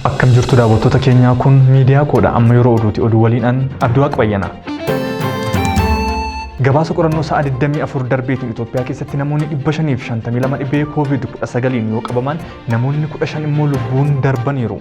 Akkam jirtu daawwattoota keenyaa kun miidiyaa koodha amma yeroo oduuti oduu waliin an Abdiwaaq Bayyana. Gabaasa qorannoo sa'a 24 darbeetiin Itoophiyaa keessatti namoonni 552 dhibee COVID-19 yoo qabaman namoonni 15 immoo lubbuun darbaniiru.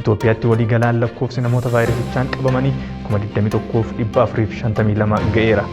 Itoophiyaatti waliigalaan lakkoofsi namoota vaayirasichaan qabamanii 21,452 ga'eera.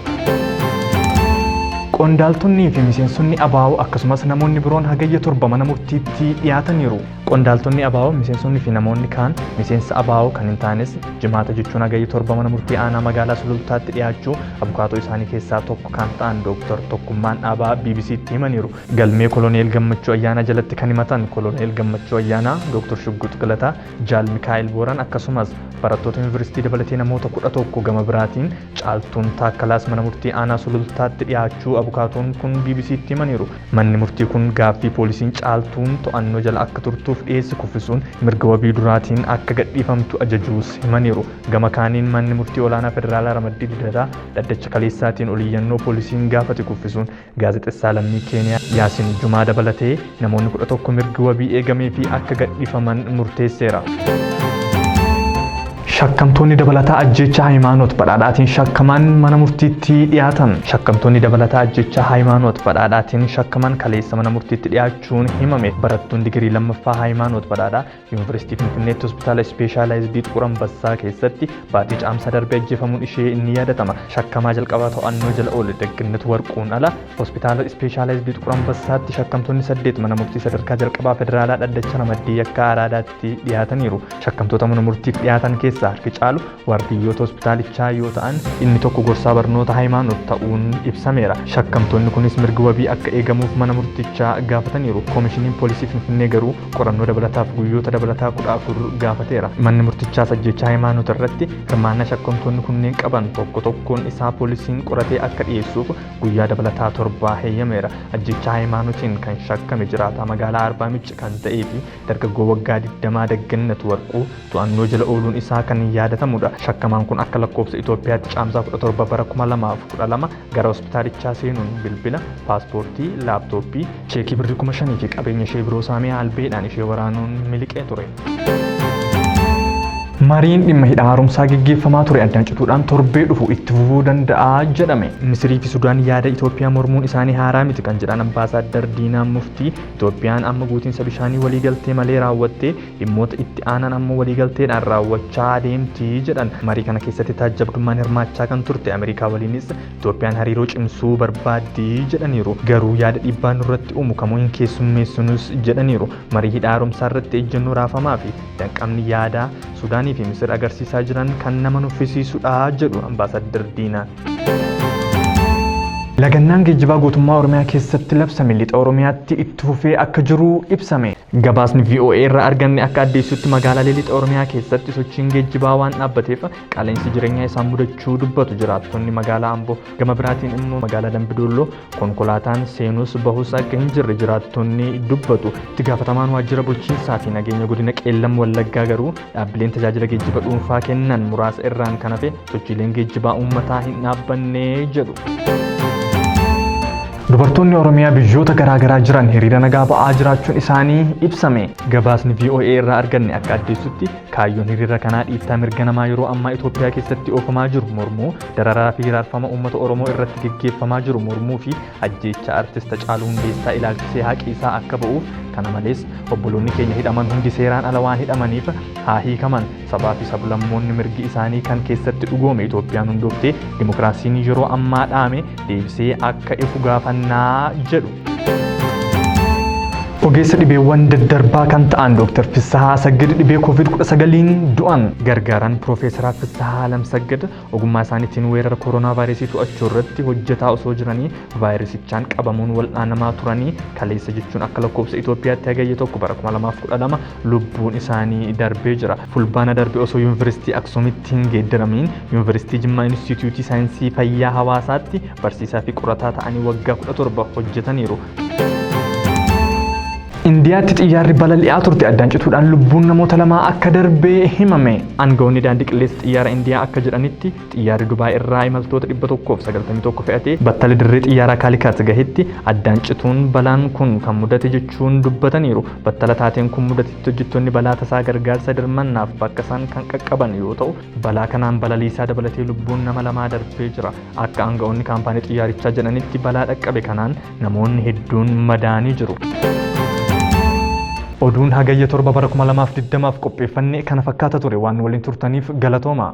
Qondaaltonnii fi miseensonni abaa'oo akkasumas namoonni biroon hagayya torba mana murtiitti dhiyaataniiru. Qondaaltonni abaa'oo, miseensonni fi namoonni kaan miseensa abaa'oo kan hin taanes jimaata jechuun hagayya torba mana murtii aanaa magaalaa Sulultaatti dhiyaachuu abukaatoo isaanii keessaa tokko kan ta'an Dooktar Tokkummaan Dhaabaa BBC'tti himaniiru. Galmee Koloneel Gammachuu Ayyaanaa jalatti kan himatan Koloneel Gammachuu Ayyaanaa, Dooktor Shugguux Galataa, Jaal Mikaa'el Booran akkasumas barattoota Yuunivarsiitii dabalatee namoota 11 gama biraatiin Caaltuun Taakkalaas Mana Murtii Aanaa Sulultaatti dhiyaachuu abukaatoon kun BBC'tti himaniiru. Manni murtii kun gaaffii poolisiin Caaltuun to'annoo jala akka turtuuf dhiyeesse kuffisuun mirga wabii duraatiin akka gadhiifamtu ajajuus himaniiru. Gama kaaniin Manni Murtii Olaanaa Federaalaa Ramaddii Lidataa dhaddacha kaleessaatiin oliyyannoo poolisiin gaafate kuffisuun Gaazexessaa lammii Keeniyaa Yaasin Jumaa dabalatee namoonni 11 mirgi wabii eegameefii akka gadhiifaman murteesseera. Shakkamtoonni dabalataa ajjeechaa Hayimaanoot Badhaadhaatiin shakkaman mana murtiitti dhiyaatan. Shakkamtoonni dabalataa ajjeechaa Hayimaanoot Badhaadhaatiin shakkaman kaleessa mana murtiitti dhiyaachuun himame. Barattuun digirii lammaffaa Hayimaanoot Badhaadhaa Yuunivarsiitii Finfinneetti hospitaala ispeeshaalaayizidii Xuqur Ambassaa keessatti baatii caamsaa darbe ajjeefamuun ishee inni yaadatama. Shakkamaa jalqabaa to'annoo jala oole Dagginnat Warquun ala hospitaala ispeeshaalaayizidii Xuqur Ambassaatti shakkamtoonni saddeet mana murtii sadarkaa jalqabaa federaalaa dhaddacha ramaddii yakkaa araadaatti dhiyaataniiru. Shakkamtoota mana murtiif dhiyaatan keessaa harki caalu Waardiyyoota hospitaalichaa yoo ta'an, inni tokko gorsaa barnoota hayimaanoot ta'uun ibsameera. Shakkamtoonni kunis mirgi wabii akka eegamuuf mana murtichaa gaafataniiru. Komishiniin Poolisii Finfinnee garuu qorannoo dabalataaf guyyoota dabalataa 14 gaafateera. Manni murtichaas ajjeechaa Hayimaanoot irratti hirmaannaa shakkamtoonni kunneen qaban tokko tokkoon isaa poolisiin qoratee akka dhiyeessuuf guyyaa dabalataa torba heyyameera. Ajjeechaa Hayimaanootiin kan shakkame jiraataa magaalaa Arbaamicc kan ta'eefi dargaggoo waggaa 20 Daggannat Warquu, to'annoo jala ooluun isaa kan yaadatamudha. Shakkamaan kun akka lakkoofsa Itoophiyaatti Caamsaa 17 bara 2012 gara hospitaalichaa seenuun bilbila, paaspoortii, laaptooppii, cheekii birrii 5,000 fi qabeenya ishee biroo saamee albeedhaan ishee waraanuun miliqee ture. Mariin dhimma hidha haaromsaa geggeeffamaa ture addaan cituudhaan torbee dhufu itti fufuu danda'a jedhame. Misirii fi Sudaan yaada Itoophiyaa mormuun isaanii haaraa miti kan jedhan Ambaasaaddar Diinaa Muftii, Itoophiyaan amma guutiinsa bishaanii waliigaltee malee raawwattee Dhimmoota itti aanan ammoo waliigalteedhaan raawwachaa adeemti jedhan. Marii kana keessatti taajjabdummaan hirmaachaa kan turte Ameerikaa waliinis Itoophiyaan hariiroo cimsuu barbaaddi jedhaniiru. Garuu yaada dhiibbaa nurratti uumu kamuu hin keessummeessinus jedhaniiru. Marii hidha haaromsaa irratti ejjennoo raafamaa fi danqamni yaadaa Sudaanii fi Misir agarsiisaa jiran kan nama nuffisiisudha jedhu Ambaasaaddar Diinaan. Lagannaan geejjibaa guutummaa Oromiyaa keessatti labsame lixa Oromiyaatti itti fufee akka jiru ibsame. Gabaasni VOA irraa arganne akka addeessutti magaalaalee lixa Oromiyaa keessatti sochiin geejjibaa waan dhaabbateef qaala'insi jireenyaa isaan mudachuu dubbatu jiraattonni magaalaa Amboo. Gama biraatiin immoo magaalaa Dambidolloo Konkolaataan seenus bahus akka hin jirre jiraattonni dubbatu. Itti gaafatamaan waajjira bulchiinsaa fi nageenya godina Qeellam Wallaggaa garuu dhaabbileen tajaajila geejjiba dhuunfaa kennan muraasa irraan kan hafe sochiileen geejjibaa uummataa hin dhaabbanne jedhu. Dubartoonni Oromiyaa biyyoota garaagaraa jiran hiriira nagaa ba'aa jiraachuun isaanii ibsame. Gabaasni VOA irraa arganne akka addeessutti kaayyoon hiriira kanaa dhiittaa mirga namaa yeroo ammaa Itoophiyaa keessatti oofamaa jiru mormuu Dararaa fi hiraarfama uummata Oromoo irratti geggeeffamaa jiru mormuu fi ajjeechaa Artist Hacaaluu Hundeessaa ilaalchisee haqi isaa akka ba'uuf kana malees obboloonni keenya hidhaman hundi seeraan ala waan hidhamaniif haa hiikaman sabaa fi sablammoonni mirgi isaanii kan keessatti dhugoome Itoophiyaan hundooftee dimokiraasiin yeroo ammaa dhaame deebisee akka ifu gaafannaa jedhu. Ogeessa dhibeewwan daddarbaa kan ta'an Dr. Fissahaa Saggid dhibee COVID-19n du'an gargaaran Piroofeesaraa Fissahaa Alam Saggid ogummaa isaaniitiin weerara kooroonaa vaayirasii to'achuu irratti hojjetaa osoo jiranii vaayirasichaan qabamuun wal'aanamaa turanii kaleessa jechuun akka lakkoofsa Itoophiyaatti hagayya tokko bara 2012 lubbuun isaanii darbee jira. Fulbaana darbe osoo Yuunivarsiitii Aksuumitti hin geeddaramiin Yuunivarsiitii Jimmaa Inistiitiyuutii Saayinsii Fayyaa Hawaasaatti barsiisaa fi qorataa ta'anii waggaa 17 hojjetaniiru. Indiyaatti xiyyaarri balali'aa turte addaan cituudhaan lubbuun namoota lamaa akka darbe himame. Aangawoonni daandii qilleensa xiyyaara Indiyaa akka jedhanitti Xiyyaarri Dubaay irraa imaltoota 191 fe'ate battala dirree xiyyaaraa Kaalikat gahetti addaan cituun balaan kun kan mudate jechuun dubbataniiru. Battala taateen kun mudatetti hojjettoonni balaa tasaa gargaarsa dirmannaaf bakka san kan qaqqaban yoo ta'u, balaa kanaan balaliisaa dabalatee lubbuun nama lamaa darbee jira. Akka aanga'oonni kaampaanii xiyyaarichaa jedhanitti balaa dhaqqabe kanaan namoonni hedduun madaa'anii jiru. Oduun Hagayya 7 bara 2020f qopheeffanne kana fakkaata ture. Waan nu waliin turtaniif galatoomaa.